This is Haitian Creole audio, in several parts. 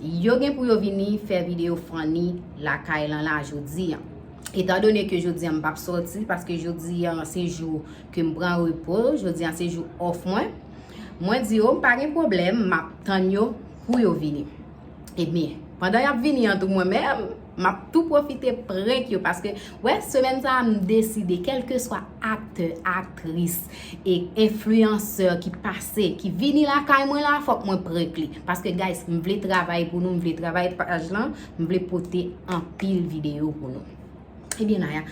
Yo gen pou yo vini fè video funny lakay lan la jodi an. Etan done ke jodi an m pap soti paske jodi an se jou ke m pran repo, jodi an se jou off mwen. Mwen di yo m pa gen pwoblèm, m ap tann yo pou yo vini. Ebyen, pandan y ap vini an tou mwen menm. Map tou profite prank yo paske wè semèn sa m deside kelkeswa aktè, aktris e enfliyansè ki pase ki vini lakay mwen la fòk mwen prank li paske guys m vle travay pou nou m vle travay paj lan m vle pote anpil videyo pou nou ebyen Naya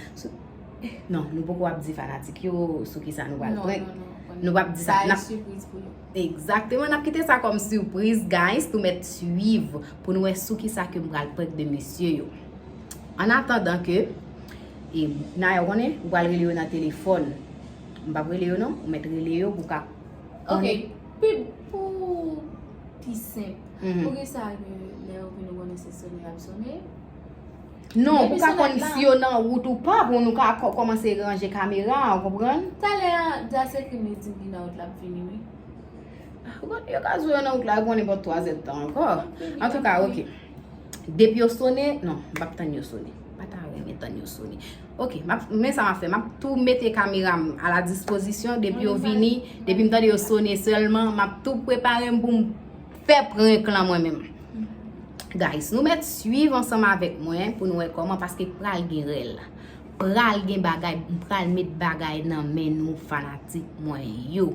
non nou poko ap di fanatik yo sou kisa nou pral prank nou pap di sa exactement nap kite sa kòm sipriz guys nou mèt swiv. pou nou wè sou ki sa ke m pral prank de mesye yo. An atandan ke, e Naya ou konnen, ou pral rele yo nan telefòn. M pap rele yo non, ou mèt rele yo pou ka konnen. Ok, pi pou pi senp, pou ki sa ke lè yo vin ou konnen se sone y ap sone? Non, pou ka konnen si yo nan wout ou pa, pou nou ka kòmanse ranje kamera, ou konprann? Talè a, Jase ekri m li di m li nan wout l ap vini wi. Yo ka zo yo nan wout la pou nenpòt 3 zèd tan ankò. An tou ka, ok. Depi yo sone, non, m pap tann yo sone. M pa ta renmen tann yo sone. Ok, men sa m ap fè. M ap tou mete kamera m a la dispozisyon. Depi yo vini, depi m tande yo sone sèlman, m ap tou prepare m pou m fè prank lan mwen menm. Guys, nou mèt suiv ansanm avèk mwen pou nou wè kòman paske pral gen rèl. Pral gen bagay, m pral met bagay nan men nou fanatik mwen yo.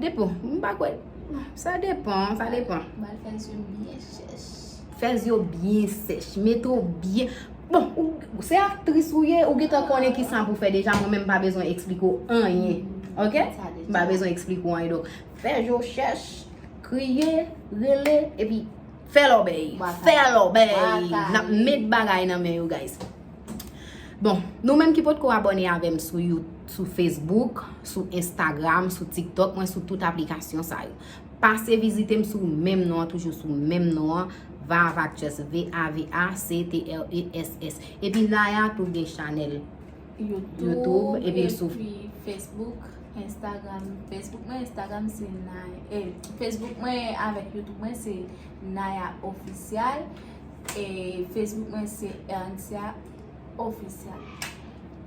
Depo, m pa kwè. Sa depan, sa depan. Bal fè zye m byen chèch. Fè zye w byen sèch. Mete w byen. Bon, ou se aktris ou ye, ou gen tan konnen ki sa pou fè deja, mwen menm m pa bezwen eksplike w anyen. Ok? M pa bezwen eksplike w anyen. Fè zye w chèch, kriye, rele, epi fè lòbèy. Fè lòbèy. N ap met bagay nan men yo, guys. Bon, nou menm ki potko abone avèm sou you, sou Facebook, sou Instagram, sou TikTok, mwen sou tout aplikasyon sa yo. Pase vizitem sou menm non an, toujou sou menm non an, Vaavactress, V-A-V-A-C-T-R-E-S-S. Epi Naya tou gen chanèl YouTube, epi sou Facebook, Instagram, Facebook mwen, Instagram se Naya, eh, Facebook mwen avèk YouTube mwen se Naya Official. E Facebook mwen se Erncia Official.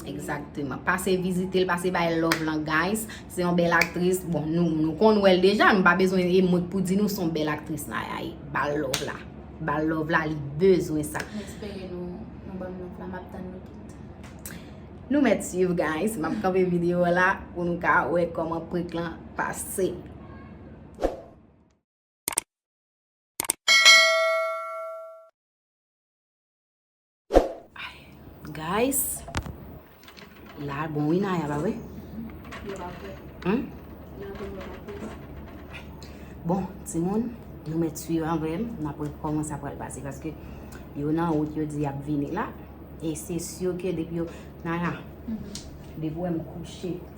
Exactement. Pase vizite l, pase bay love lan guys. Se yon bel aktris. Bon, nou kon wèl deja. M pa bezwen yon emot pou di nou son bel aktris nan ya yi. Bal love la. Bal love la li bezwen sa. M espere nou ban m love la. M ap tan nou tout. Nou met suyv guys. M ap kanpe video la. Ou nou ka wè koman prik lan pase. Guys, la a bon wi Naya ba we. Yo pa fwe. Hum? Yo pa fwe. Bon, ti moun, nou met suiv anvem, nou apwe koman sa pral pase. Paske, yo nan out yo di ap vini la. E se syo ke depi yo, Naya, depi ou em kouche.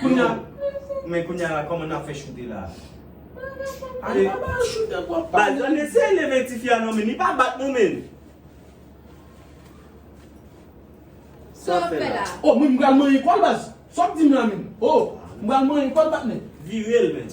Kounya Men kounya la koman nap fè choute la. Al pa bal choute bro pa bal. Bal men sele men tifi a non men li pa bat non men. Sa wap fè la. Oh mwen m pral manyen kòl baz. Sa wap dim la menm. Oh m pral manyen kòl patnè. Virel men.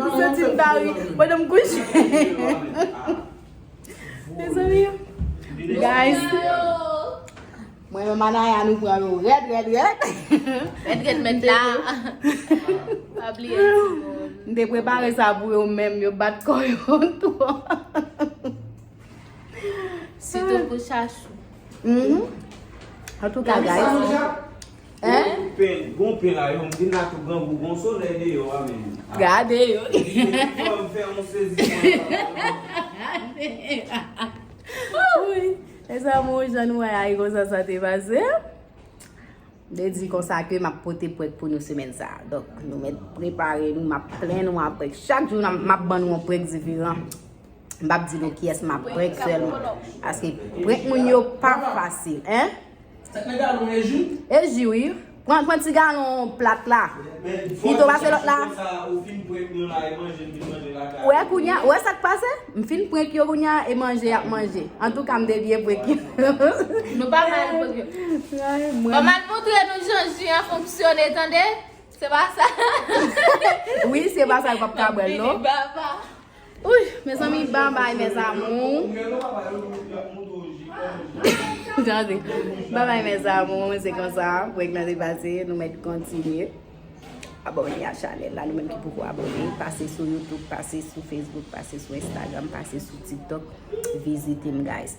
Ou santi m ta ri pandan m kouche. Mezanmi. Guys. Mwen menm a Naya nou pran nou rèd rèd rèd. Rèd rèd mèt la. Pa bliye ti moun. M te prepare sa pou yo menm yo bat kò yo twò. Sitou pou chachou. Antouka guys. Ohh pen gon pen la yo m vin la tou grangou gon solèy deyò wa menm ah. Gade yo. Fò m fè yon sezisman nan bagay yo. Wouyy mes amours jan nou wè a e konsa sa te pase. Mwen di konsa ke m ap pote prank pou nou semèn sa. Donk nou mèt prepare nou m ap plen nou a prank. Chak jou m ap ban nou yon prank diferan. M p ap di nou kiyès m ap prank sèlman. Paske prank moun yo pa fasil. Sak nan galon e ju? E ju wi. Pran pran ti galon plat la. Pito pase lot la. Ou fin prank nou la e manje vin manje la ka. Ou e kounya, ou e sak pase? M fin prank yo kounya e manje yap manje. Antouka m te byen prank yo. Nou pa mal prank yo. Pa mal montre nou jan ju an fonksyone tande. Se pa sa. Wi se pa sa yo pap ka bwèl non. Baba. Ouih mezanmi bon bagay mes amours. Tande Bon bagay mes amours se konsa prank nan te pase nou met kontinye abone a chanel la nou menm ki poko abone pase sou youtube pase sou facebook pase sou instagram pase sou tiktok vizitem guys.